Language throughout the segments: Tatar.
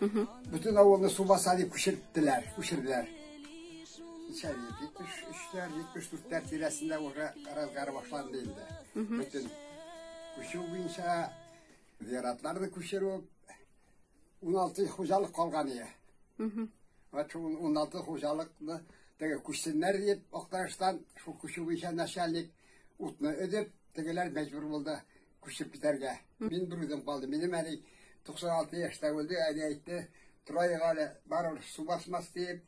Бөтен авылны су баса дип күчерттеләр, күчерделәр. Ничә ел? 73-ләр, 74-ләр тирәсендә уже разгар башланды инде. Бөтен күчү буенча зиратларны күчерү 16 хуҗалык калган иде. Вот 16 хуҗалыкны теге күчсеннәр дип Актаныштан шул күчү буенча начальник утны өдеп, тегеләр мәҗбүр булды. күчеп китәргә. Мин берүзем калдым. Минем әни 96 яшьтә үлде, әни әйтте, торайык әле, барыбер су басмас диеп,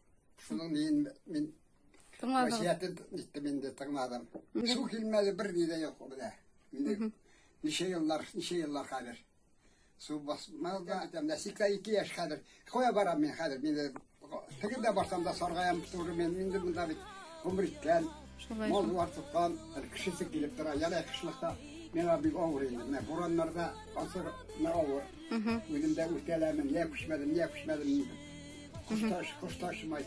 шуның мин мин тыңладым. Васиятен иттем инде, тыңладым. Су килмәде, бер ни дә юк менә. Инде ничә еллар, ничә еллар хәзер. Су басмау да әйтәм, менә 82 яшь хәзер. Кая барам мин хәзер? Мин теге дә барсам да саргаям туры мен инде монда бит гомер иткән. Шулай. Мал бар тоткан, кешесе килеп тора. Яна кышлыкта миңа бик авыр инде. Менә бураннарда асыр менә авыр. Үзем дә үтәләмен, я күчмәдем, я күчмәдем. Кошташ, кошташмай.